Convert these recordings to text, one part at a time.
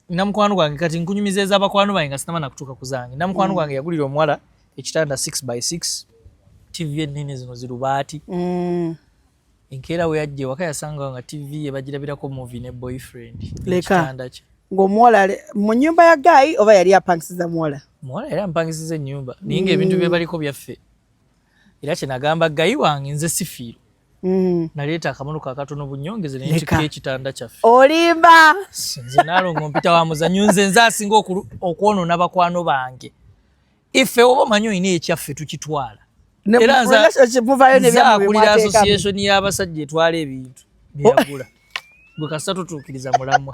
namukwano gwange kati nkunyumiza eza bakwano bange nga sinaba nakutuuka ku zange namukwano mm. gwange yagulira omuwala ekitanda 6 by 6 tv ennene zino zirubaati mm. enkeera we yajja ewaka yasanga nga tv ebagirabirako movi ne boyfriend ekitanda kye ng'omuwala mu nyumba ya gaayi oba yali apangisiza muwala muwala yali ampangisiza ennyumba naye nga ebintu bye mm. baliko byaffe era kyenagamba gayi wange nze sifiirwa Mm. naleeta akamono kakatono bunyongeze nekika ekitanda kyaffe olimba nze nalongo mpita wa muzanyo nze nze asinga okwonona bakwano bange ife oba omanyi olina ekyaffe tukitwala era nzakulira association y'abasajja etwala ebintu byeyagula gwe kasita tutuukiriza mulamwa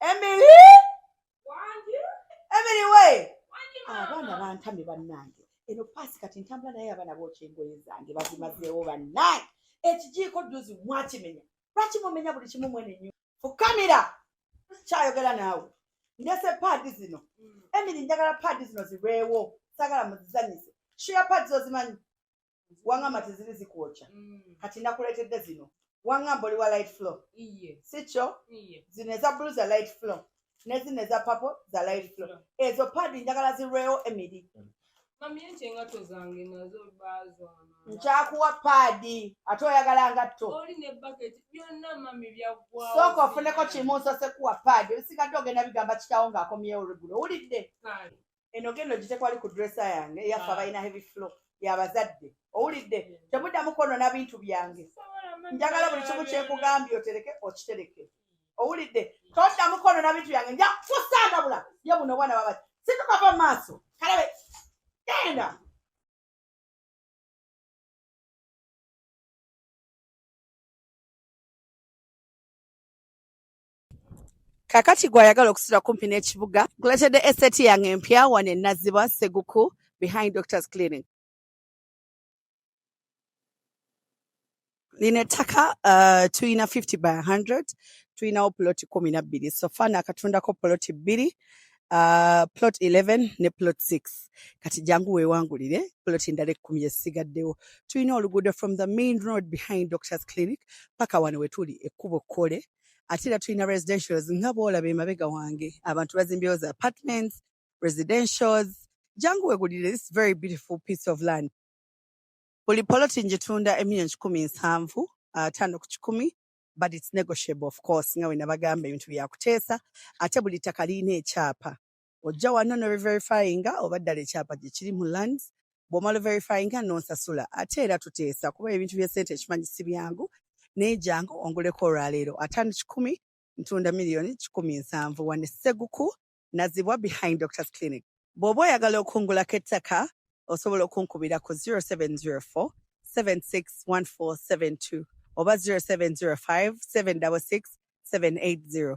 Emily Emily we abaana bantamye bannange eno paasi kati ntambula naye abaana bookya engoye zange bazimazeewo bannange ekijiiko dduzi mwakimenya lwaki mumenya buli kimu mwene nyo fukamira kyayogera naawe ndese paadi zino mm. Emily njagala paadi zino zirwewo sagala muzizanyise shuya paadi zozimanyi wangamba teziri zikwokya mm. kati nakuleetedde zino wangamba oli wa light flow sikyo zino eza bulu za light flow nezino eza papo za light flow ezo padi njagala zirwewo emiri mm. nkyakuwa paadi ate oyagala ngatto sooka ofuneko kimu nsose kuwa paadi ebisigadde ogenda bigamba kitawo ng'akomyewo lugulo owulidde eno genda ogitekwali ku dresa yange eyaffe ah. abalina heavy flow yabazadde owulidde temuddamu kwonona bintu byange njagala buli kimu kyekugambye otereke okitereke owulidde toddamu kwonona bintu byange nja kusandabula ye buno obwana baba situkava mu maaso kalabe genda Kakati gwe ayagala okusula kumpi n'ekibuga nkuleetedde eseti yange empya wano e Nazzibwa Seguku behind Doctors Clinic. Lino ettaka uh, tulina 50 by 100 tulinawo poloti kumi na bbiri so fana akatundako poloti bbiri uh, plot 11 ne plot 6 kati jangu wewangulire plot endala ekkumi esigaddewo tulina oluguudo from the main road behind doctors clinic paka wano wetuli ekkubo kkole ate era tulina residentials nga bwolaba emabega wange abantu bazimbyewo za apartments residentials jangu wegulire this very beautiful piece of land buli poloti njitunda emiliyoni kikumi nsanvu uh, tano ku kikumi but it's negotiable of course nga wenabagamba ebintu byakuteesa ate buli ttaka lirina ekyapa ojja wano ne reverifyinga oba ddala ekyapa gye kiri mu land bw'omala verifyinga n'onsasula ate era tuteesa kuba ebintu by'essente ekimanyi si byangu naye jangu onguleko olwaleero ataano kikumi ntunda miliyoni kikumi nsanvu wane sseguku nazibwa behind doctors clinic bw'oba oyagala okungulako ettaka osobola okunkubira ku 0704 761472 oba 0705 766 780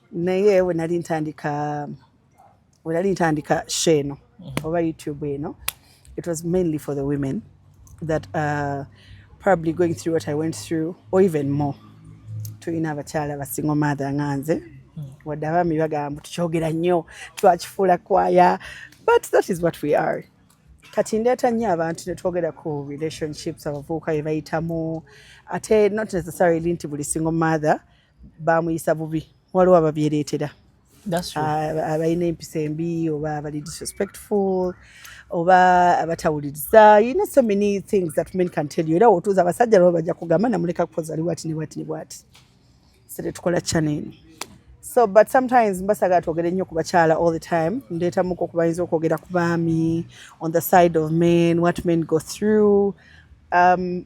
naye we nali ntandika we nali ntandika show eno mm-hmm. oba youtube eno it was mainly for the women that are probably going through what i went through or even more tulina abakyala basingo maatha nga nze mm. wadde abaami bagamba tukyogera nnyo twakifuula kwaya but that is what we are kati ndeeta nnyo abantu ne twogera ku relationships abavubuka bye bayitamu ate not necessarily nti buli single mother bamuyisa bubi waliwo ababyereetera abalina empisa embi oba abali disrespectful oba abatawuliriza you know so many things that men can tell you era wotuuza abasajja laba bajja kugamba namuleka kukoza ali bwati ne bwati ne bwati sere tukola chaneno so but sometimes mbasagala twogere nnyo ku bakyala all the time ndeetamuko okubayinza okwogera ku baami on the side of men what men go through um,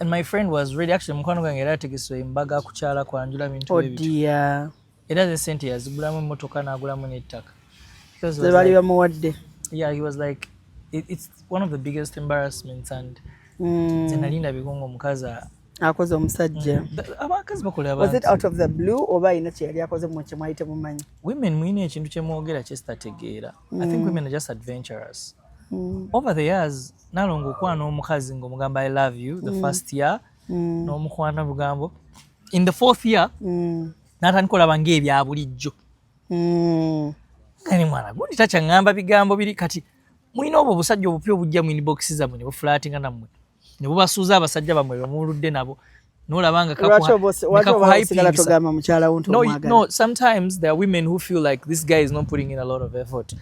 And my friend was ready actually mukwano gwange era ategese embaga kukyala kwanjula bintu oh ebyo. Oh dear. Era ze sente yazigulamu emmotoka n'agulamu n'ettaka. Ze bali bamuwadde. Yeah, he was like it, it's one of the biggest embarrassments and mm. ze nalinda bigongo omukazi akoze omusajja mm. abakazi bakola abantu was it out of the blue oba ayina kye yali akoze mu kye mwali temumanyi women mulina ekintu kye mwogera kye sitategeera I think mm. women are just adventurous. Mm. Over the years, nalongo okuba n'omukazi ng'omugamba I love you the mm. first year mm. n'omukwana bugambo in the fourth year mm. natandika olaba ng'ebya bulijjo mm. kani mwana gundi takyaŋŋamba bigambo biri kati mulina obwo obusajja obupya obujja mu inbox zammwe ne bufulaatinga nammwe ne bubasuuza abasajja bamwe bemuludde nabo nolaba nga kakuhaipingisa no, no sometimes there are women who feel like this guy is not putting in a lot of effort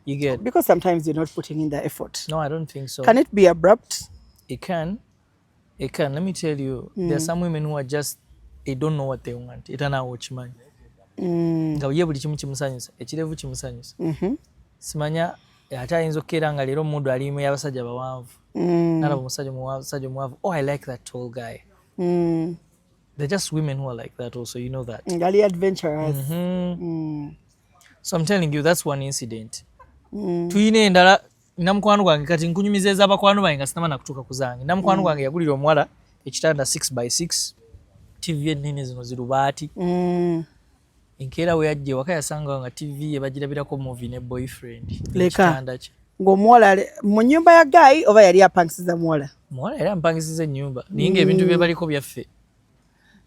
you get because sometimes you're not putting in the effort no i don't think so can it be abrupt it can it can let me tell you mm. there are mm. some women who are just they don't know what they want it and i watch man mm. nga ye buli kimu kimusanyusa ekirevu kimusanyusa mm-hmm. simanya ate ayinza okukeera nga leero omudu alimu yabasajja bawanvu mm. nalaba omusajja omusajja omwavu oh i like that tall guy mm. they're just women who are like that also you know that ngali adventurous mm -hmm. mm. so i'm telling you that's one incident mm. tuyina endala namukwano gwange kati nkunyumiza eza bakwano bange nga sinama nakutuuka ku zange namukwano mm. gwange yagulira omuwala ekitanda 6 by 6 tv ennene zino zirubaati mm. enkeera we yajja ewaka yasanga nga tv ye bagirabirako muvi ne boyfriend leka ng'omuwala mu nyumba ya gaayi oba yali apangisiza muwala muwala yali ampangisiza ennyumba naye nga ebintu mm. bye baliko byaffe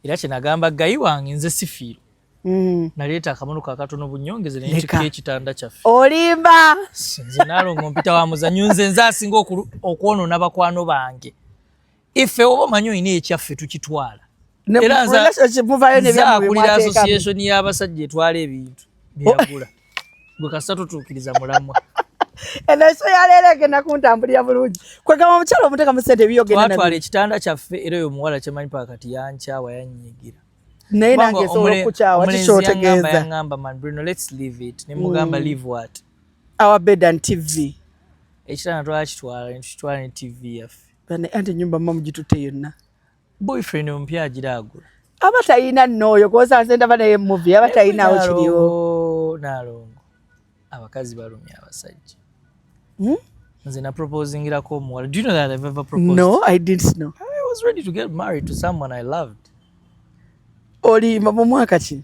era kye nagamba gayi wange nze sifiiro mm. naleeta akamono kakatono bunyongeze nenkyuka ekitanda kyaffe olimba nze nalongo mpita wa muzanyo nze nze asinga okwonona bakwano bange ife oba omanyi olina ekyaffe tukitwala era nzakulira association y'abasajja etwala ebintu byeyagula gwe kasita tutuukiriza mulamwa enaiso yaleero egenda kuntambulira bulungi kwegamba omukyalo omuteka mu sente ebiyogtwala ekitanda kyaffe era oyo omuwala kyemanyi pa kati yankyawa yanyigira naye nange esobola okukyawa kikyotegeeza yangamba man bruno let's leave it nemugamba mm. leave what our bed and tv ekitanda twakitwala netutwala ne tv yaffe Bana ante nyumba mamu jitute yonna. Boyfriend ompya ajira agula. Aba tayina noyo koza nze ndaba naye movie aba tayina awo kiriwo. Nalongo. Abakazi balumya abasajja. Hmm? Nze na proposingira ko omuwala. Do you know that I've ever proposed? No, I didn't know. I was ready to get married to someone I loved. Oli mu mwaka ki?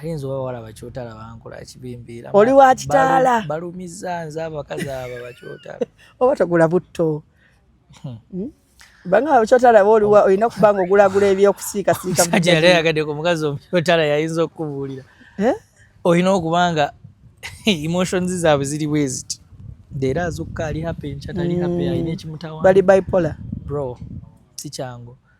ayinza oba walaba kyotala bankola kibimbiira oli wa kitaala balumizza nze abakazi abo bakyotala oba togula butto hmm. hmm? banga kyotala ba oliwa olina okuba nga ogulagula ebyokusiikasiika musajja yali ayagadde ku mukazi omukyotala yayinza okukubuulira eh? olina okuba nga emotions zaabwe ziri bweziti leero azukka ali happy nkyatali happy hmm. alina ekimutawa bali bipolar bro si kyangu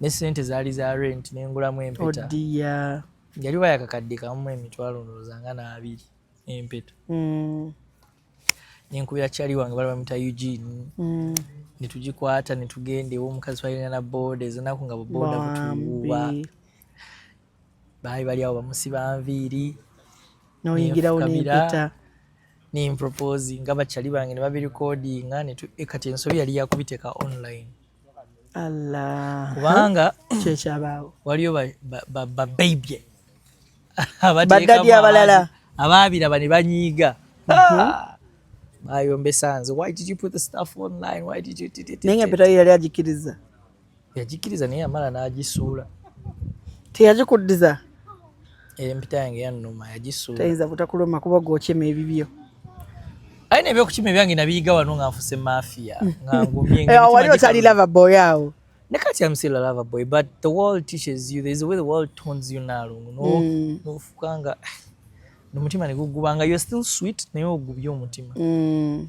ne sente zaali za rent nengulamu empeta oh yali wayakakadde kamu emitwalo ndowooza nga n'abiri empeta mm. nenkubira kyali wange bali bamuyita eugene mm. netugikwata netugenda ewomukazi twalina na boda ezenaku nga buboda butuwuba baali bali awo bamusiba nviiri noyingirawo nempita nemproposi nga bakyali bange ne babirikodinga eh, kati ensobi yali yakubiteeka online allah kubanga kyekyabaawo waliyo babababye baddadi abalala abaabiraba ne banyiiga mhm. ah! bayombesa nze why did you put the stuff online why did you naye nga pitayo yali agikiriza yagikiriza naye yamala n'agisuula teyagikuddiza empita yange yannuma yagisuula tayinza butakuluma kuba gwokima ebibyo aye nebyokukima ebyange nabiyiga wano nga nfuse mafiya ngangumyewali eh, otali lava boy awo ne kati am still a lava boy but the world teaches you there's a way the world tones you nalungu mm. nofukanga nomutima negugubanga you're still sweet naye ogubye omutima mm.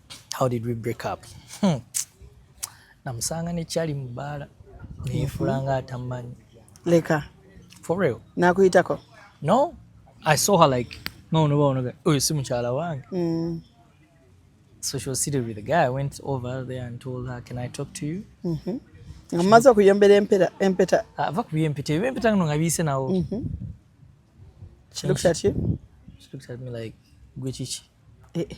how did we break up hmm. namusanga nekyali mu bbaala neyefula nga atamanyi leka for real nakuyitako no i saw her like nonoba onoga oyo si mukyala wange mm. so she was seated with the guy i went over there and told her can i talk to you mm -hmm. amaze okuyombera empeta empeta ah, ava kubiyo empeta ebyo empeta ngno nga biyise nawo mm -hmm. she looked at you she looked at me like gwe kiki eh. eh.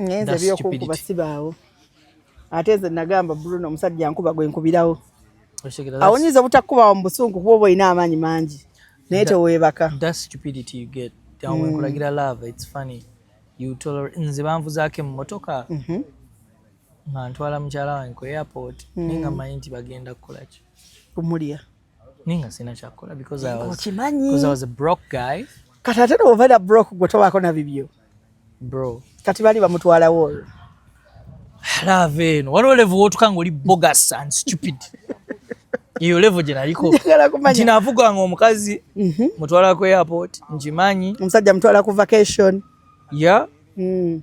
ngenze byokukuba sibaawo ate nze nagamba bruno omusajja nkuba gwe nkubirawo awo nyinza obutakubawo mu busungu kuba oba olina amaanyi mangi naye teweebaka nkulagira love its funny nze banvuzaako emmotoka mhm. nga ntwala mukyala wange ku airport mm. naye nga manyi nti bagenda kukolaki kumulya naye nga sirina kyakukola because i was a broke guy kati ate nowovaira broke gwe tobaako na bibyo bro kati bali bamutwalawo olwo love eno waliwo level wotuka nga oli bogus and stupid eyo level gye naliko nti navuga nga omukazi mhm. mutwala ku airport nkimanyi omusajja mutwala ku vacation ya mm.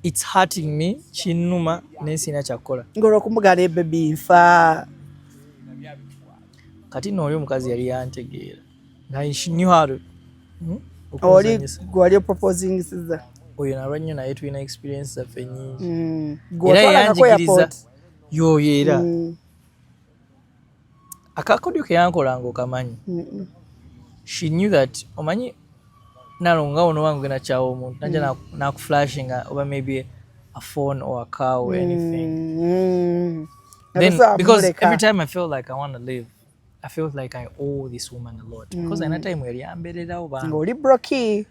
its hurting me kinuma naye sirina kyakukola ngaolwokumugana ebebi nfa kati nooli omukazi yali yantegeera oli gwali oproposingisiza oyo nalwa nnyo naye tulina experience zaffe nyingi mm. era yanjigiriza yoyo era mm. akakodyo keyankolanga okamanyi she knew that omanyi nalonga ono wange ogenda kyawa omuntu naja mm. nakuflashinga oba maybe a phone or a car or anything then because every time i feel like i want to live I felt like I owe this woman a lot mm. because mm. another time yali yambererawo ba ngoli broki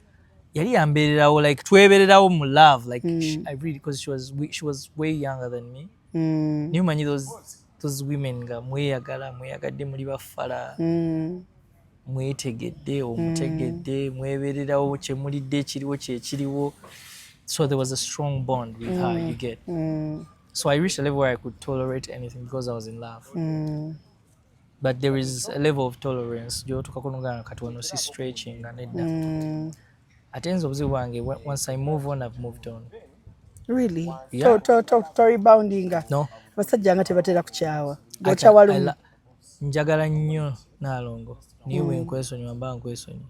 yali yambererawo like twebererawo mu love like mm. she, I really because she was she was way younger than me mm. niyo manyi those those women nga mweyagala mweyagadde muli bafala mm. mwetegedde omutegedde mm. mwebererawo kyemulidde ekiriwo kyekiriwo so there was a strong bond with mm. her you mm. get mm. so I reached a level where I could tolerate anything because I was in love mm. but there is a level of tolerance gyotuka kunuganga kati wano si stretching nga nedda mm. ate nze obuzibu bwange once i move on i've moved on really yeah. to, to, to, to reboundinga no abasajja nga tebatera kukyawa okyawa lumu njagala nnyo naalongo niwe mm. nkwesonyiwa mba nkwesonyiwa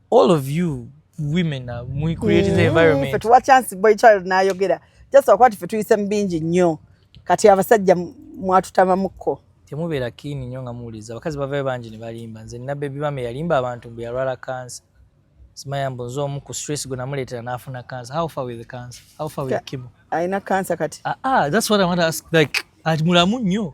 all of you women are we create mm, the environment but what chance boy child na yogera just akwati fe tuyise mbingi nnyo kati abasajja mwatutamamuko temubeera kiini nnyo nga muwuliriza abakazi bavayo bangi ne balimba nze nina bebi bame yalimba abantu mbu yalwala kansa simaya mbu nze omu ku stress gwe namuleetera n'afuna kansa how far with cancer how far with kimo alina kansa kati ah, ah, that's what i want to ask like ati mulamu nnyo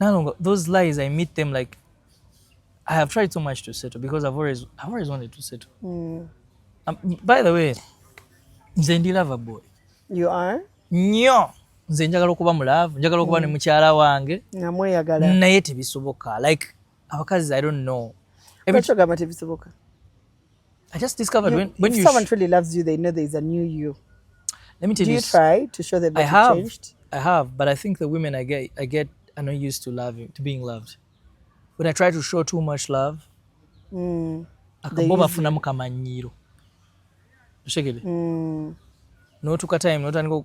Nalongo, those lies I meet them like I have tried so much to settle because I've always I've always wanted to settle. Mm. Um, by the way, nze ndi lover boy. You are? Nyo. Nze njagala okuba mu love, njagala okuba mm. ne mukyala wange. Namweyagala. Naye tebisoboka. Like abakazi i don't know ebikyogamba tebisoboka i just discovered you, when, when if you someone truly loves you they know there is a new you let me tell Do you, you try to show them that I have, changed i have but i think the women i get i get are not used to loving to being loved when i try to show too much love mm, akaboba bafunamu kamanyiiro oshegede mm. notuka time notandika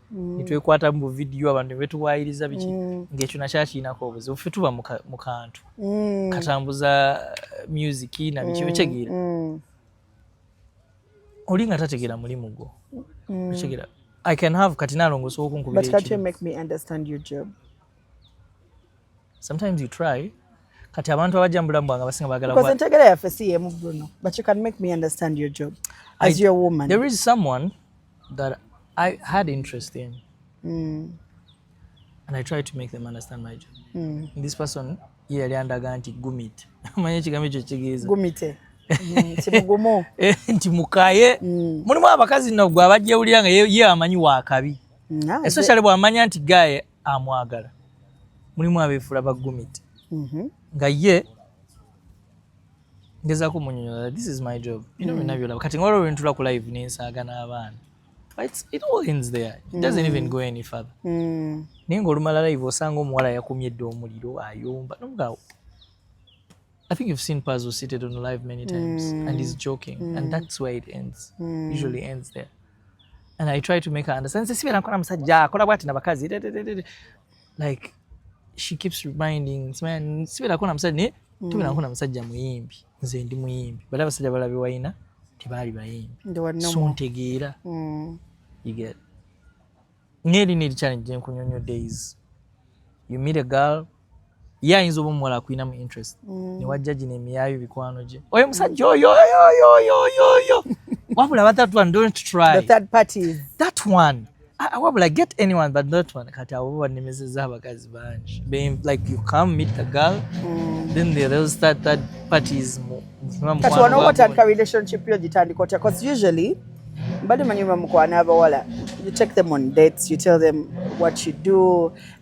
mm. netwekwata mu vidiyo abantu nebetuwayiriza biki mm. ngaekyo nakyakiinako obuzibu fe tuba mu kantu mm. katambuza eh, music nabiki otegeera oli nga tategeera mulimu gwo otegeera i can have kati nalongo osobola okunkubirakati sometimes you try kati abantu abajja mubulamu bwange abasinga bagala entegera yaffe si yemu bruno but you can make me understand your job as I, your woman there is someone that I had interest in. Mm. And I tried to make them understand my job. Mm. And this person ye yali andaga nti gumit manya ekigambo ekyo kitegeeza gumite mm, kimugumu eh, nti mukaye mm. mulimu abakazi no gwe abajjewulira nga ye amanyi wakabi mm, especially bwamanya nti gaye amwagala mulimu abeefula bagumit mm-hmm. nga ye ngezaako munyonyola this is my job bino mm. byonna byolaba kati ngolwo lwentula ku live nensaaga n'abaana it all ends there it doesn't mm. even go any further mm. naye ngaolumala live osanga omuwala yakumye dde omuliro ayomba nomugaawo I think you've seen Pazo seated on live many times mm. and he's joking mm. and that's where it ends mm. usually ends there and I try to make her understand sisi bera nkora musajja akora bwati na bakazi like she keeps reminding sibeerako na musajja naye mm. tubeerako na musajja muyimbi nze ndi muyimbi bali abasajja balabe wayina tebaali bayimbi so ntegeera mm. ngeri neri challenge gyenkunyonyo days you meet a girl ye ayinza oba omuwala akulinamu interest mm. newajja gino emiyayo bikwano gye oyo musajja oyo oyo oyo oyo oyo wabula batatu one don't try the third parties that one Ah, ah, wabula get anyone but not one kati abo banemezeza abakazi bangi like you come meet the girl mm. then the real start third parties kati wano watandika relationship yo gitandika otya bcause usually mbadde manyi bamukwana abawala you take them on dates you tell them what you do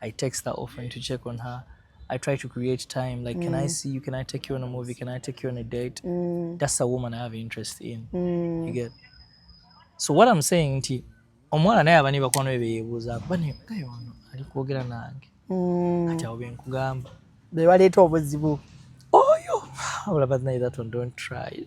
I text her often yeah. to check on her. I try to create time. Like, mm. can I mm. see you? Can I take you on a movie? Can I take you on a date? Mm. That's a woman I have interest in. Mm. You get? So what I'm saying nti omwana naye abani bakwano be beyebuuza bani kaye wano ali kwogera nange mm. ati awo benkugamba bewaleeta obuzibu oyo olaba naye that one don't try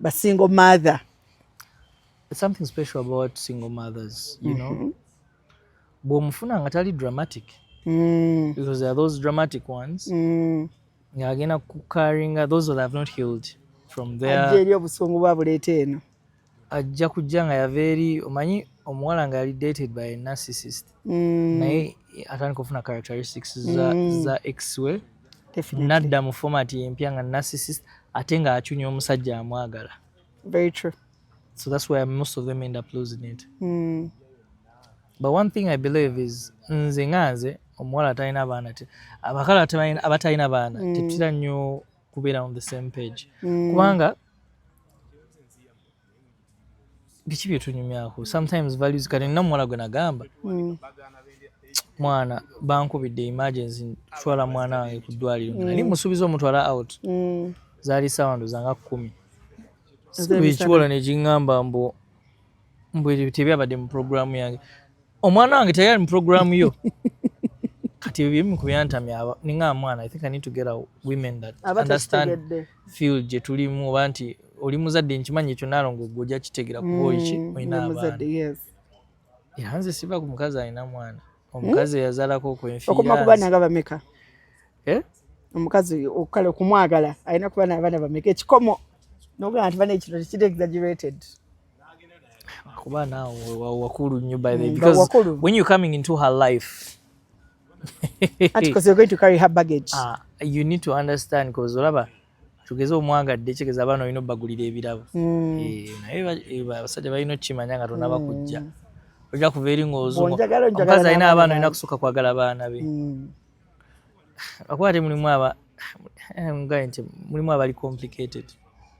ba single mother something special about single mothers you know mm-hmm. bwomufuna nga tali dramatic mm. because there are those dramatic ones mm. nga agenda kukaringa those that have not healed from there ajja eri obusungu babuleeta eno ajja kujja nga yava eri omanyi omuwala nga yali dated by a narcissist mm. naye atandika okufuna characteristics za, mm. za ex we nadda mu format empya nga narcissist ate nga acunya omusajja amwagala very true so that's why most of them end up losing it mm. but one thing i believe is nze nga nze omuwala atalina baana abakala abatalina baana mm. tetutera nnyo kubeera on the same page mm. kubanga biki byetunyumyako sometimes values kati nina muwala gwe nagamba mm. mwana bankubidde emergency kutwala mwana wange ku ddwaliro mm. nali musuubiza omutwala out mm. zaali sawando zanga kumi ekiwola nekiŋamba mbu mbu tebyabadde mu programu yange omwana wange teyali mu program yo kati ebyo bimu kubyantamya ninga mwana i think i need to get a women that understand field gye tulimu oba nti oli muzadde nkimanyi ekyo naalongo gwe ojja kitegera kuba oiki mm, olina abaana era nze siva ku mukazi alina mwana omukazi hmm? eyazalako okwenfiiraokumakubanaabameka eh? omukazi okukala okumwagala alina kuba naabaana bameka ekikomo nogaa nti bana ekino tekiri exaggerated kuba naawe wakulu nnyo by the mm, because wakulu. when you coming into her life and because you're going to carry her baggage uh, you need to understand because olaba tugeze omwagadde kigeza abaana olina obagulira ebirabo mm. eh, naye eh, abasajja balina okukimanya nga tonaba mm. kujja ojja kuva eri ngaozuomukazi alina abaana olina kusooka kwagala baana be akuba ate mulimu aba eh, ngaye nti mulimu abali complicated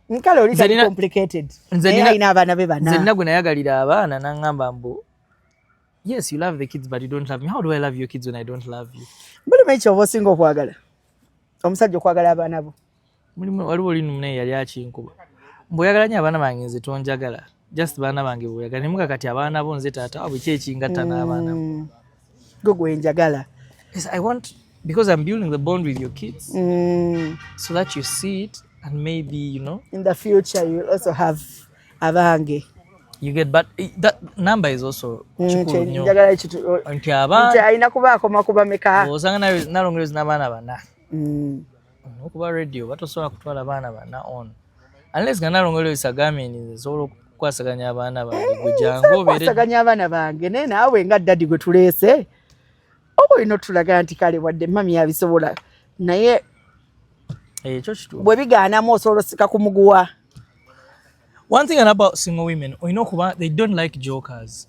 nkale oli tali complicated naye alina abaana be bana nzenna gwe nayagalira abaana nangamba mbu yes you love the kids but you don't love me how do i love your kids when i don't love you mbuli mekyo oba osinga okwagala omusajja okwagala abaana bo mulimu waliwo oli mune yali akinkuba mbu oyagala nyo abaana bange nze tonjagala just baana bange bweyagala nemuga kati abaana bo nze taata wabwe ki ekingatta n'abaana mm. gwe gwenjagala i want because i'm building the bond with your kids mm. so that you see it and maybe you know in the future you will also have abange you get but eh, that number is also mm, kikulu nyo nti abaana alina kuba akoma kuba meka osanga nalongereza n'abaana bana mm. Nokuba radio batosobola kutwala baana bana on unless nga nalongo lyo isagambye nti nze nsobola okukwasaganya abaana bange gwe jangu obeerekwasaganya abaana bange naye naawe nga ddadi gwe tuleese oba olina otulaga nti kale wadde mami yabisobola naye ekyo kitu bwe bigaanamu osobola osika ku muguwa one thing about single women olina okuba they don't like jokers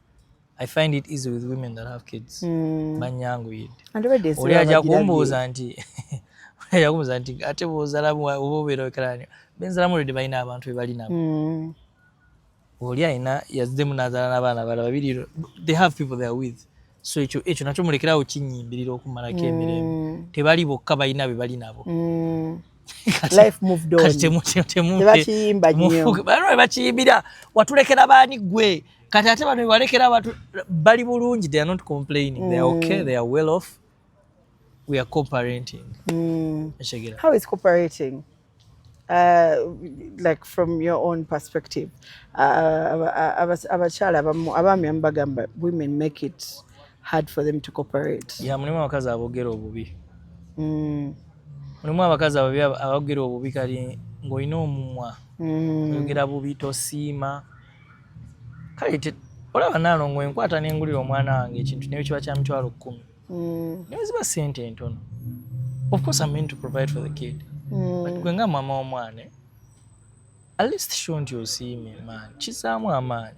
I find it easy with women that have kids. Mm. Banyangu yid. And already is. Uli aja kumbuza nti. Uli aja kumbuza nti ate bozala mu obubero ekrani. Benzala mu ridi baina abantu bebali nabo. Mm. Uli aina yazdemu nazala na bana bala babiri. They have people they are with. So echo echo nacho mulekera uchinyimbilira okumara kemirembe. Mm. Tebali bokka baina bebali nabo. Mm. life moved on tebakiyimba nyo bakiyimbira watulekera baani gwe kati ate bano balekera abantu bali bulungi they are not complaining mm. they are okay they are well off we are cooperating mm. how is cooperating Uh, like from your own perspective uh, abakyala abamu abaami amubagamba women make it hard for them to cooperate yeah mulimu abakazi abogera obubi mm. mulimu abakazi ababi abogera obubi kali ng'olina omumwa mm. oyogera bubi tosiima kale olaba nalongo enkwata nengulira omwana wange ekintu naye kiba kya mitwalo kkumi mm. naye ziba sente entono of course i mean to provide for the kid mm. but gwe nga maama w'omwana at least show nti osiime maani kizaamu amaanyi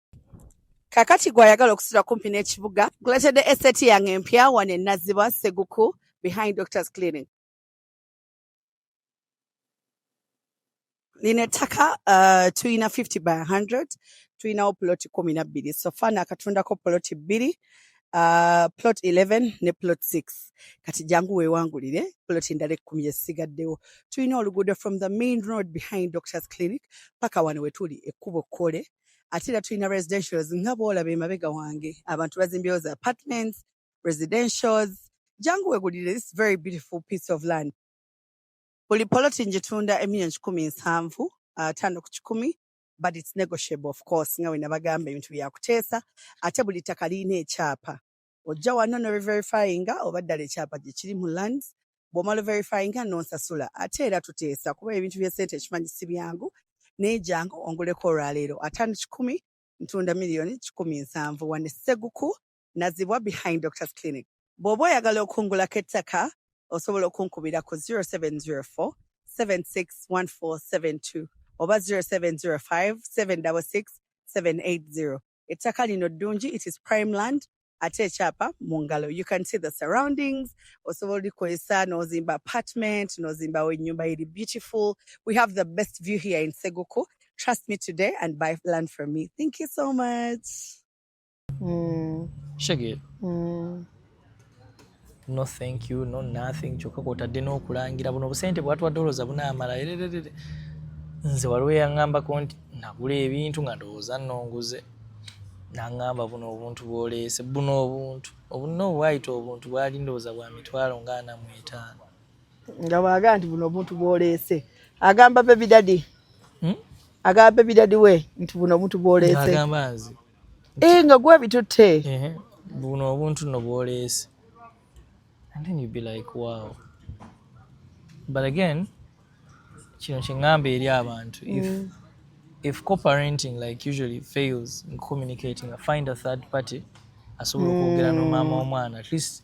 kakati gwe ayagala okusula kumpi n'ekibuga guletedde eseti yange empya wano enazibwa seguku behind doctors clinic lino ettaka uh, tulina 50 by 100 tulinawo ploti kumi na bbiri sofa nakatundako ploti bbiri uh, plot 11 ne plot 6 kati jangu wewangulire plot endala ekkumi yesigaddewo tulina oluguudo from the main road behind doctors clinic paka wano wetuli ekkubo kkole ate era tulina residentials nga bwolaba emabega wange abantu bazimbyewo za apartments residentials jangu wegulire this very beautiful piece of land buli poloti njitunda emiliyoni kikumi nsanvu uh, tano ku kikumi but it's negotiable of course nga wenabagamba ebintu byakuteesa ate buli ttaka lirina ekyapa ojja wano ne reverifyinga oba ddala ekyapa gye kiri mu land bw'omala verifyinga n'onsasula ate era tuteesa kuba ebintu by'essente ekimanyi si byangu naye jangu onguleko olwaleero ataano kikumi ntunda miliyoni kikumi nsanvu wane sseguku nazibwa behind doctors clinic bw'oba oyagala okungulako ettaka osobola okunkubira ku 0704 761472 oba 0705 766 780 ettaka lino ddungi it is prime land ate ekyapa mu ngalo you can see the surroundings osobola olikozesa nozimba apartment nozimbawo ennyumba eri beautiful we have the best view here in seguku trust me today and buy land from me thank you so much mm. shege mm. no thank you no nothing kyokka kwotadde n'okulangira buno obusente bwatwadde olowooza bunaamala erererere nze waliwo yaŋŋambako nti nagula ebintu nga ndowooza nnonguze naŋŋamba buno obuntu bwoleese buno obuntu obunna obwayita obuntu bwali ndowooza bwa mitwalo nga ana mu etaano nga bwaga nti buno obuntu bwoleese agamba bebidadi hmm? agamba bebidadi we nti buno obuntu bwoleese agamba nze Eh nga gwa bitutte. Eh buno obuntu no bwoleese. And then you be like wow. But again kino kyengamba eri abantu if mm. if co-parenting like usually fails in communicating, find a third party asobola okwogera mm. no maama omwana at least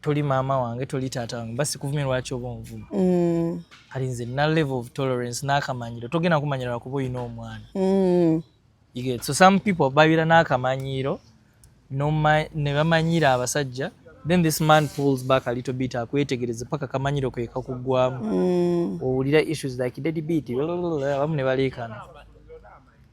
toli maama wange toli taata wange basi kuvumye lwaki oba onvuma mm. kati nze na level of tolerance n'akamanyiiro togenda kumanyira lwakuba olina omwana mm. so some people babira n'akamanyiiro ne bamanyiira abasajja then this man pulls back a little bit akwetegereze paka kamanyiro ke kakugwamu mm. owulira issues like daddy beat abamu ne baleekana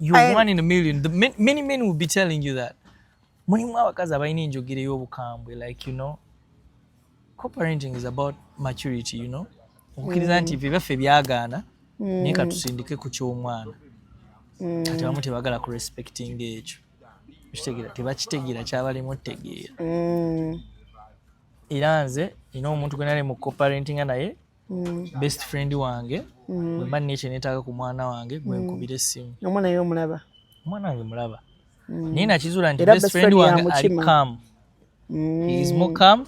You're I, one in a million. The, many men will be telling you that. Mulimu abakazi abalina enjogera ey'obukambwe like you know co-parenting is about maturity you know okukkiriza nti ebyo mm. byaffe byagaana mm. naye katusindike ku ky'omwana mm. kati abamu tebagala ku respecting ekyo kitegera tebakitegeera kyabalimu otegeera era nze ina omuntu gwe nali mu co-parentinga naye mm. best friend wange mm. wemba nina ekyenetaaga ku mwana wange gwenkubira mm. essimu omwana yo omulaba omwana wange mulaba mm. naye nakizuula nti best friend wange ali calm mm. he is more calm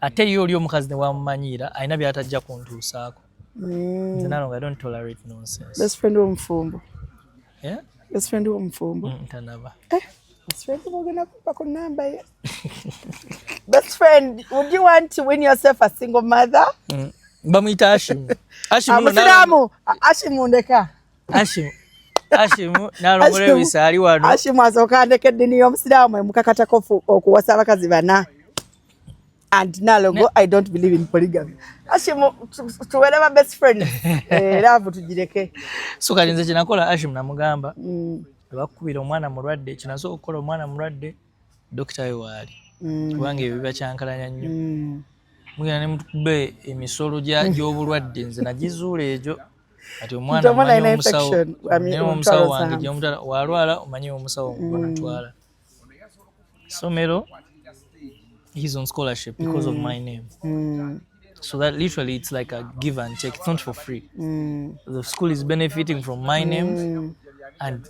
ate ye oli omukazi newamumanyiira alina byatajja kuntuusaako mm. nze nalonga don't tolerate nonsense best friend womufumbo yeah? best friend womufumbo mm, tanaba eh, best friend wogenda kumpako namba ye Best friend, would you want to win yourself a single mother? Mm. Bamwita Ashim. Ashim ah, Musiramu. Ashim ndeka. Ashim. Ashim nalongole bisali wano. Ashim azoka ndeke dini yo Musiramu mukakata kofu okuwasa abakazi bana. And nalongo ne. I don't believe in polygamy. Ashim tuwele ba best friend. eh love tujireke. Sukalinze kinakola Ashim namugamba. Mm. Bakubira omwana mulwadde kinazo okola omwana mulwadde. dokita we waali mm. kubanga ebyo bibakyankalanya nnyo mm. mugenda ne mutukuba emisolo gy'obulwadde nze nagizuula egyo kati omwana omanyi omusawo naye omusawo wange gyomutala walwala omanyi omusawo gwenatwala somero he's on scholarship because mm. of my name mm. so that literally it's like a give and take it's not for free mm. the school is benefiting from my name mm. and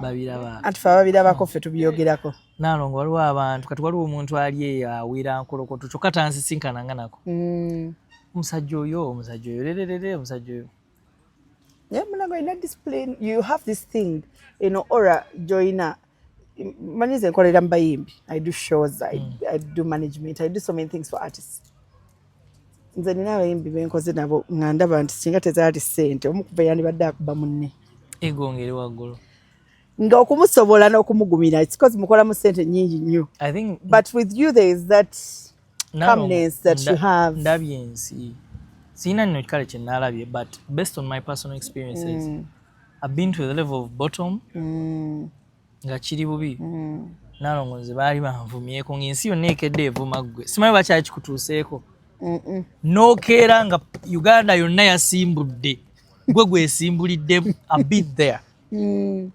babiraba anti fe ababirabako ffe tubyogerako nalongo waliwo abantu kati waliwo omuntu ali eyo awira nkolokoto kyokka tansisinkana nga nako mm. omusajja oyo omusajja oyo lererere omusajja oyo mulago olina discipline you have this thing eno ora joyina manyi ze nkolera mu bayimbi i do shows I, mm. i do management i do so many things for artists nze nina abayimbi benkoze nabo nga ndaba nti singa tezaali ssente omu kuva yandibadde akuba munne egongere waggulu nga okumusobola n'okumugumira because mukolamu ssente nyingi nnyo but with you there is that calmness that you have ndabye ensi sirina nno kikale kye naalabye but based on my personal experiences mm. i've been to the level of bottom mm. nga kiri bubi mm. nalongo nze baali banvumyeko ngaensi yonna ekedde evuma ggwe simanyi bakyakikutuuseeko nokeera nga uganda yonna yasimbudde gwe gwesimbulidde abit there mm.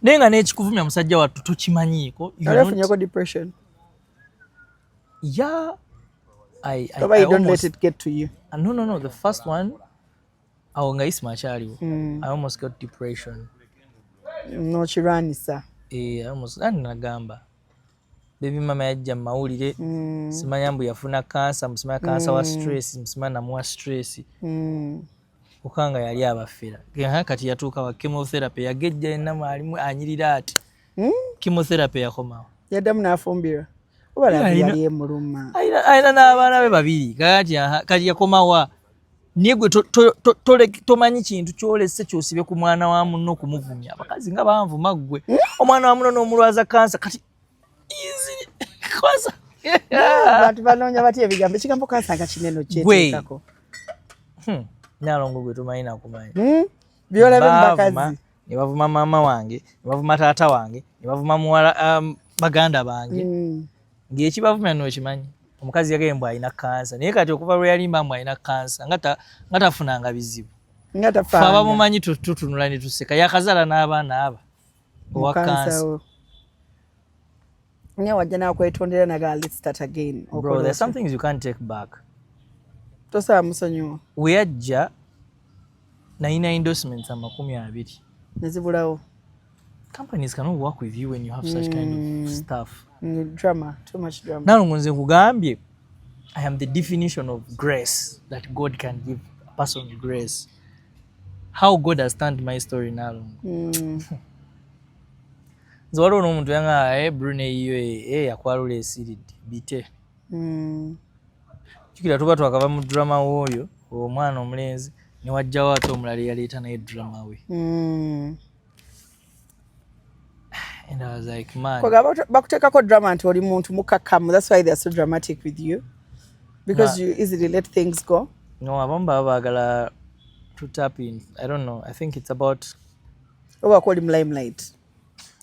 naye nga nekikuvumya musajja wattu tokimanyiiko ya I, I, I almost, no, no, no, the first one awo nga isma akyaliwo mm. i almost got depression nokirwanisa eh, ani nagamba bebi mama yajja mumawulire mm. simanya mbu yafuna kansa musimanya kansa wa mm. stress musimanya namuwa stress okanga yali abafera kati yatuuka wa chemotherapy yagejja yenna mwalimu anyirira ati chemotherapy yakomawo yaddamu nafumbirwa alina n'abaana be babiri kati kati yakomawa naye gwe tomanyi kintu kyolese kyosibe ku mwana wa munno okumuvumya abakazi nga banvuma ggwe hmm? omwana wa muno n'omulwaza kansa kati kansa abantu banoonya batya ebigambo ekigambo kansa nga kineno kyeteekako hmm. nalongo gwe tomanyi nakumanyi hmm? byolabembakazi ne bavuma maama wange ne bavuma taata wange ne bavuma muwala um, baganda bange mm. ngaekibavumya nokimanyi omukazi yagaye mbu alina kansa naye kati okuva lweyalimba mbu alina kansa nga tafunanga bizibu fe abamumanyi tutunula netuseka yakazala n'abaana aba owakansa nga wajja nakwetondera naga let's start again bro there's some things you can't take back tosaa musonyiwa weyajja nayina endorsements amakumi abiri nezibulawo companies cannot work with you when you have such mm. kind of mm. stuff mm, drama too much drama nalo ngonze nkugambye i am the definition of grace that god can give a person grace how god has turned my story nalongo mm. nze waliwo n'omuntu yanga e eh, brune yiyo e eh, eh, yakwalula esiridde bite mm. jukira tuba twakava mu drama wooyo omwana omulenzi newajjawo ate omulala eyaleeta naye drama we mm. And I was like, man. Bakutekako drama nti oli muntu mukakamu. That's why they are so dramatic with you. Because you easily let things go. No, abamu baba bagala to tap in. I don't know. I think it's about oba ko oli mu limelight.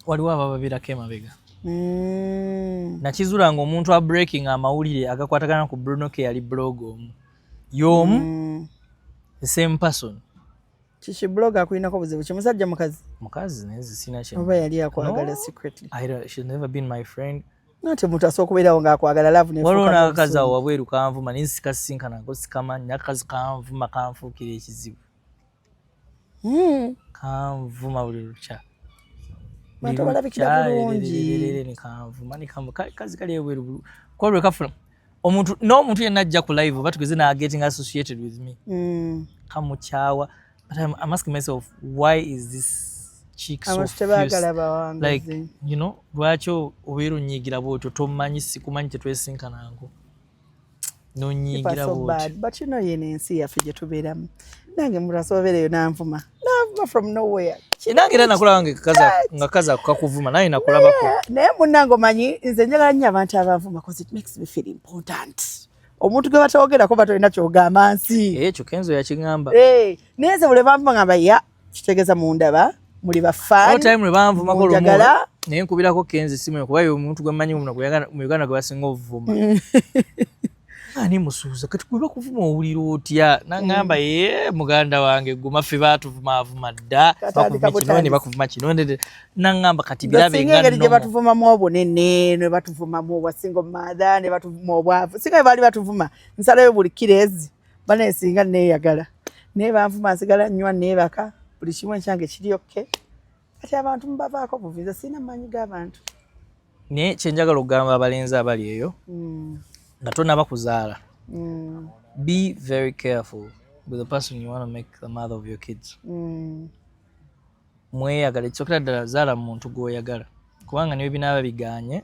Waliwo abababirako emabega. Mm. Nakizula ng'omuntu a breaking amawulire agakwatagana ku Bruno ke yali blog omu. Y'omu mm. the same person. Kiki blog akulinako buzibu ki musajja mukazi? Mukazi naye sina kye. Oba yali akwagala no? secretly. I don't, she's never been my friend. Nate muntu asobola kubeerawo ng'akwagala laavu nefuuka. Waliwo n'akakazi awo wabweru kanvuma naye sikasisinkana nako sikamanyi n'akakazi kanvuma kanfuukira ekizibu. Hmm. Kanvuma buli lukya. Bantu balabikira bulungi. Kanvuma ne kanvuma kazi kali ebweru kwolwe kafuna. omuntu n'omuntu yenna ajja ku live oba tugeze na getting associated with me mm. kamukyawa but I'm, I'm asking myself why is this chick so like you know lwaki obeera onyiigira bwotyo tomanyi sikumanyi tetwesinkanango nonyiigira bwotyo but you know yene ensi yaffe gye tubeeramu nange murasobereyo nanvuma navuma from nowhere nange era nakulaba nga kaza kakuvuma naye nakulabako naye munange omanyi nze njagala nnyo abantu abavuma bcause it makes me feel important omuntu gwe batawogerako batolina kyogamba nsi ekyo kenzo yakigamba eh, naye nze buli banvuma ngamba ya kitegeeza mundaba muli bafaanjagala naye nkubirako kenzo esimu kuba omuntu gwe mmanyi mu uganda gwe basinga obuvuma ani musuuza kati kuba kuvuma owulira otya nangamba mm. ye muganda wange guma ffe batuvumaavuma dda bakuvumakino ne bakuvuma kino nangamba kati birabeengeri gye batuvumamu obunene ne batuvumamu obwasinga omumaadha ne batuvuma obwavu singa bwe baali batuvuma nsalayo buli kirezi banaye singa neeyagala naye banvuma nsigala nnywa neebaka buli kimu ekyange kiri okke kati abantu mubavaako buvi nze sirina maanyi g'abantu naye kyenjagala okugamba abalenzi abali eyo hmm. nga tonaba kuzaala hmm. be very careful with the person you want to make the mother of your kids hmm. mweyagala ekisokera ddala zaala muntu gwoyagala kubanga niwe binaaba biganye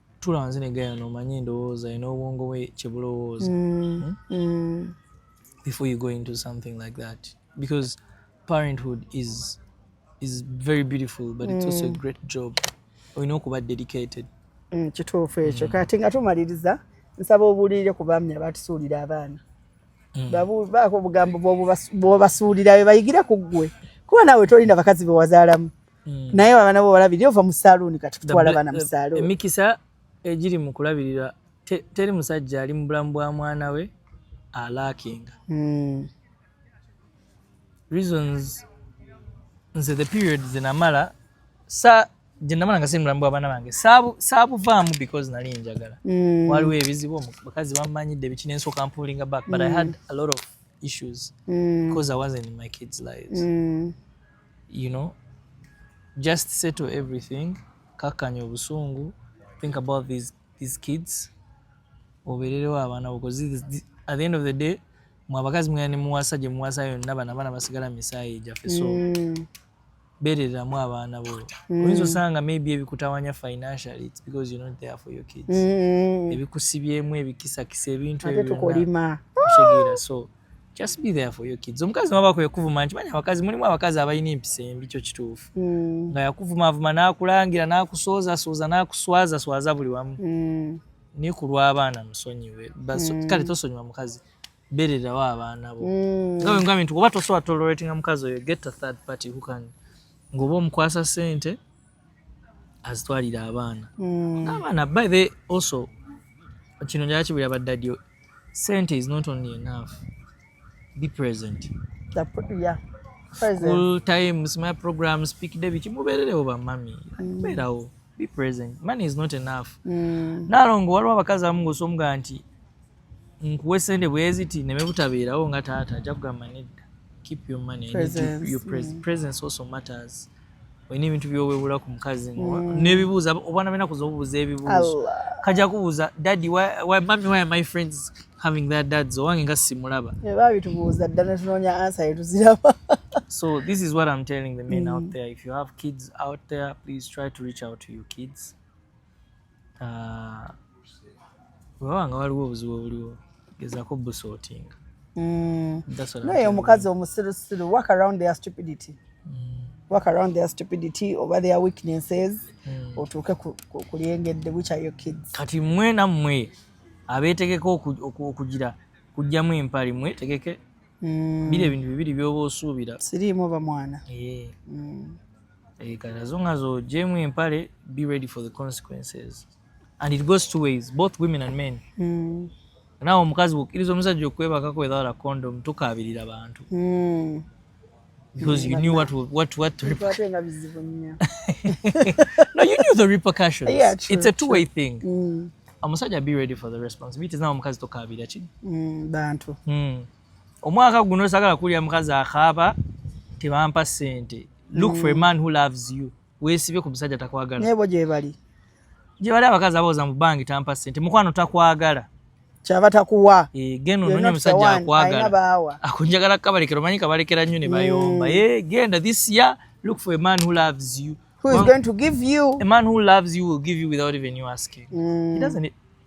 tula nze ne gayano omanye endowooza ye n'obwongo bwe kye bulowooza mm, hmm? mm. before you go into something like that because parenthood is is very beautiful but it's also a mm. great job olina okuba dedicated mm, kituufu ekyo mm. kati nga tumaliriza nsaba obuulirire ku baami abatusuulira abaana mm. baako obugambo bwobasuulira be bayigire ku ggwe kuba naawe tolina bakazi be wazaalamu mm. naye abana bo balabirira ova mu saluuni kati kutwala bana mu saluuni emikisa egiri mu kulabirira teri musajja ali mu bulamu bwa mwana we alaakinga mm. reasons nze the period zenamala sa gyenamala nga simulamu bwabana bange saabuvaamu because nali njagala mm. waliwo ebizibu bakazi bamanyidde biki nensooka mpulinga back but mm. i had a lot of issues mm. because i wasn't in my kids lives mm. you know just settle everything kakkanya obusungu think about these, these kids obeererewo abaana bo at the end of the day mwe abakazi mwena ne muwasa gye muwasa yonna bana abaana basigala mu misaayi gyaffe so mm. beereramu abaana bo mm. oyinza osanga maybe ebikutawanya financially it's because you're not there for your kids mm. ebikusibyemu ebikisakisa ebintu ebyo byonna so mm. just be there for your kids omukazi maba kwe kuvuma nti manya abakazi mulimu abakazi abalina empisa embi kyo kituufu mm. nga yakuvumaavuma n'akulangira n'akusoozasooza n'akuswazaswaza buli wamu mm. ni ku lw'abaana musonyiwe mm. kale tosonyiwa mukazi bererawo abaana bo mm. nga bwe ngambye nti oba tosobola toleratinga mukazi oyo get a third party who can ng'oba omukwasa sente azitwalira abaana mm. abaana by the also kino njala kibulira baddadi Sente is not only enough. Be present. The, yeah. Present. School times, my program, speak day, bichi mubererewo ba mami. Mm. Beerawo. Be present. Money is not enough. Mm. Nalongo waliwo abakazi abamu ng'osomga nti nkuwe sente bweziti neme butabeerawo nga taata ajja kugamba nedda. Keep your money. Presence. Your, your pres mm. presence also matters. olina ebintu byowewula ku mukazi mm. nebibuuza obwana bena kuza obubuuza ebibuuzo kaja kubuuza daddy mami why my friends having that dads owange nga simulaba babitubuuza dda netunoonya ansa yetuziraba so this is what i'm telling the men mm. out there if you have kids out there please try to reach out to your kids waba nga waliwo obuzibu obuliwo gezako busotinga mm. naye omukazi omusirusiru work around their stupidity mm. work around their stupidity oba their weaknesses mm. otuuke kulyengedde which are your kids kati mwe nammwe abeetegeka okugira kujjamu empali mwe tegeke mm. biri ebintu bibiri byoba osuubira siriimu oba mwana yeah. mm. Eh, kati as long as ogyemu empale be ready for the consequences and it goes two ways both women and men mm. nawe omukazi bwokkiriza omusajja okwebakako without a condom tukaabirira bantu mm. because you knew what what what to no you knew the repercussions yeah, true, it's a two way thing mm. omusajja be ready for the responsibilities nawe omukazi tokaabira ki mm, bantu mm. omwaka guno sagala kulya mukazi akaaba tebampa sente look for a mm. man who loves you wesibye ku musajja takwagala nebo gyebali gyebali abakazi abooza mu bangi tampa sente mukwano takwagala kyava takuwa eh, genda ononye omusajja akwagala akunjagala kabalekera omanyi kabalekera nnyo ne bayomba mm. eh, genda this year look for a man who loves you who is going to give you a man who loves you will give you without even you asking mm. he doesn't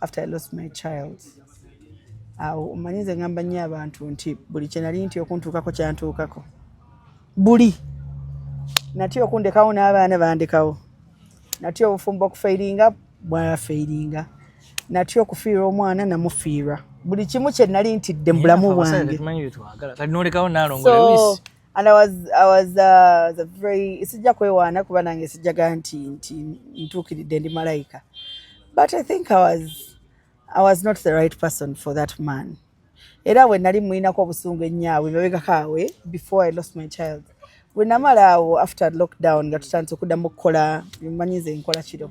after I lost my child awo omanyi nze ngamba nnyo abantu nti buli kyenali nti okuntuukako kyantuukako buli natya okundekawo n'abaana bandekawo natya obufumbo okufeiringa bwafeiringa natya okufiirwa omwana namufiirwa buli kimu kyenali ntidde mu bulamu bwange and I was, I was, uh, was a very sijja kwewaana kuba nange sijjaga nti nti ntuukiridde ndi malayika but I think I was, I was not the right person for that man era we nali mulinako obusungu ennyo awo emabegako awe before I lost my child we namala awo after lockdown nga tutandise okuddamu okukola manyize nkola kiro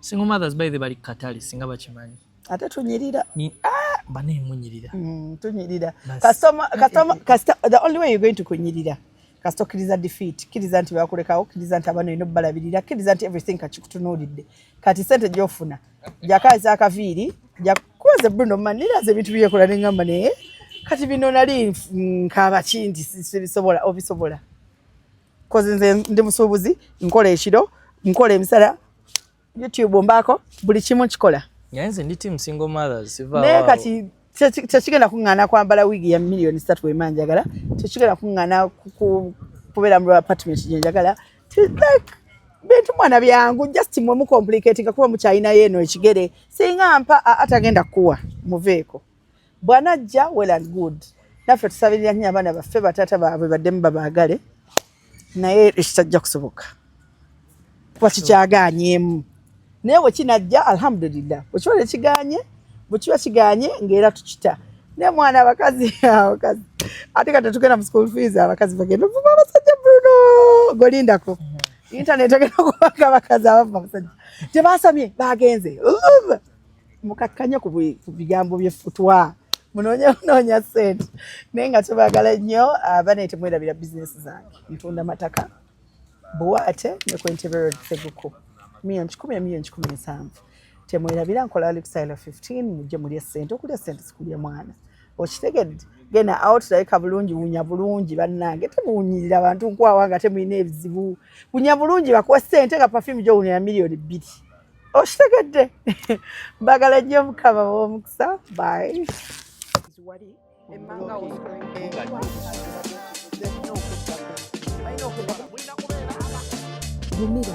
single mothers by the bali katale singa bakimanyi ate tunyirira ni ah bane munyirira mm, tunyirira customer customer customer the only way you're going to kunyirira kasita okkiriza defeat kiriza nti bakulekawo kiriza nti abana olina obalabirira kiriza nti everything kakikutunuulidde kati sente gyofuna jakaza akaviiri jakuze bruno maniraza ebintu byekola nengamba naye kati bino nali nkaaba kindi sibisobola obisobola kozi nze ndi musuubuzi nkola ekiro nkola emisala youtube mbaako buli kimu kikola naye nze ndi team single mothers siva naye kati tekigenda kuŋŋaana kwambala wiigi ya miliyoni satu wema njagala tekigenda kuŋŋaana kubeera mu apartment gye njagala bintu mwana byangu just mwe mucomplicatinga kuba mukyalinayo eno ekigere singa mpa atagenda kukuwa muveeko bwanajja well and good naffe tusabirira nnyo abaana baffe bataata baabwe baddemu babaagale naye ekitajja kusoboka kuba kikyagaanyeemu naye bwe kinajja alhamdulillah bwe kiba nekiganye bwe kiba kiganye ngaera tukita naye mwana abakazi abakazi ate ka tetugenda mu school fees abakazi bagenda ovuma abasajja bruno golindako mm-hmm. internet egenda kubanga abakazi abava abasajja tebasamye bagenze mukakkanye ku bigambo byefutwa munoonye kunoonya sente naye nga tubagala nnyo abana ah, temwerabira bizinesi zange ntunda mataka buwaate ne ku entebero seguku miyoni kikumi emiyoni kikumi ensanvu temwerabira nkola lifestyle 15 mujje mulye sente okulya sente sikulye mwana okitegedde genda awo tulabika bulungi wunya bulungi bannange temuwunyirira bantu nkwawa nga temulina ebizibu wunya bulungi bakuwa sente nga pafimu gyowunya ya miliyoni bbiri okitegedde mbagala nnyo mukama w'omukisa bayi gumira